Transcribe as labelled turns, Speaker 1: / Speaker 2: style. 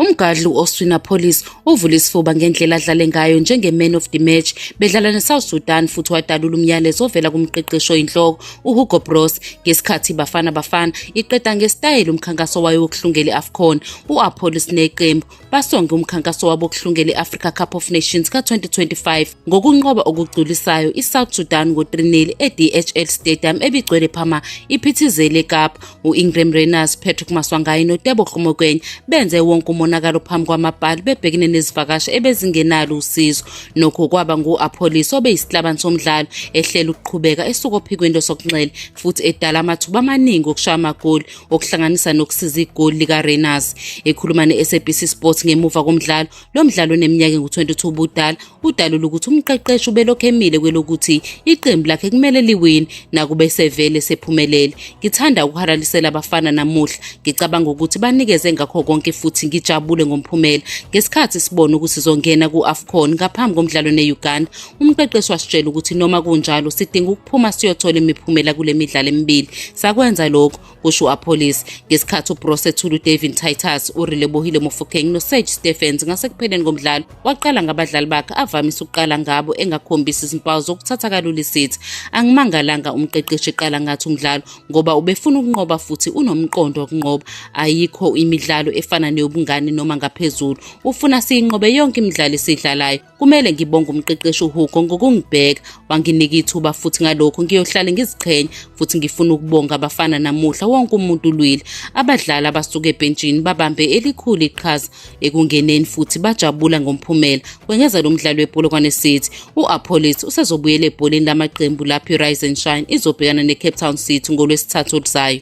Speaker 1: Umgadli u-Oswina Police uvule isifuba ngendlela adlale ngayo njenge-man of the match bedlala ne-South Sudan futhi wadalula umyalezo ovela kumqeqeshi oyinhloko uHugo Broos ngesikhathi iBafana Bafana iqeda ngesitayela umkhankaso wayo wokuhlungela i-AFCON u-Apolis neqembu basonge umkhankaso wabo wokuhlungela i-Africa Cup of Nations ka-2025 ngokunqoba okugculisayo i-South Sudan ngo-3-0 e-DHL Stadium ebigcwele phama iphithizele eKapa. U-Ingram Rayners, Patrick Maswangayi noTebo Hlumokwenye benze wonke umonakalo phambi kwamabhali bebhekene nezivakashi ebezingenalo usizo. Nokho kwaba ngu-Apholis obeyisihlabani somdlalo ehlela ukuqhubeka esuka ophikweni losokunxele futhi edala amathuba amaningi okushaya amagoli. okuhlanganisa nokusiza igoli likaRainers. Ekhuluma ne-SABC Sports ngemuva komdlalo, lo mdlalo oneminyaka engu-22 ubudala, udalula ukuthi umqeqeshi ubelokhu emile kwelokuthi iqembu lakhe kumele liwini nakube sevele sephumelele. Ngithanda ukuhalalisela abafana namuhla. Ngicabanga ukuthi banikeze ngakho konke futhi ngijabule ngomphumela. Ngesikhathi sibona ukuthi sizongena ku-AFCON ngaphambi komdlalo ne-Uganda, Umqeqeshi wasitshela ukuthi noma kunjalo sidinga ukuphuma siyothola imiphumela kule midlalo emibili. Sakwenza lokho, kusho u-Appolis. Ngesikhathi uBroos ethula uDavin Titus, uRelebohile Mofokeng noSage Stephens ngasekupheleni komdlalo, waqala ngabadlali bakhe avamise ukuqala ngabo engakhombisi izimpawu zokuthatha kalula isithi. Angimangalanga umqeqeshi eqala ngathi umdlalo ngoba ubefuna ukunqoba futhi unomqondo wokunqoba. Ayikho imidlalo efana neyobungane noma ngaphezulu. Ufuna siyinqobe yonke imidlalo esidlalayo. Kumele ngibonge umqeqeshi uHugo ngokungibheka, wanginika ithuba futhi ngalokho ngiyohlale ngiziqhenya futhi ngifuna ukubonga abafana namuhla wonke umuntu ulwile. Abadlali abasuke ebhentshini babambe elikhulu iqhaza ekungeneni futhi bajabula ngomphumela. Kwengeza lo mdlali wePolokwane City, u-Apollis usezobuyela ebholeni lamaqembu lapho iRise and Shine izobhekana neCape Town City ngolwesithathu oluzayo.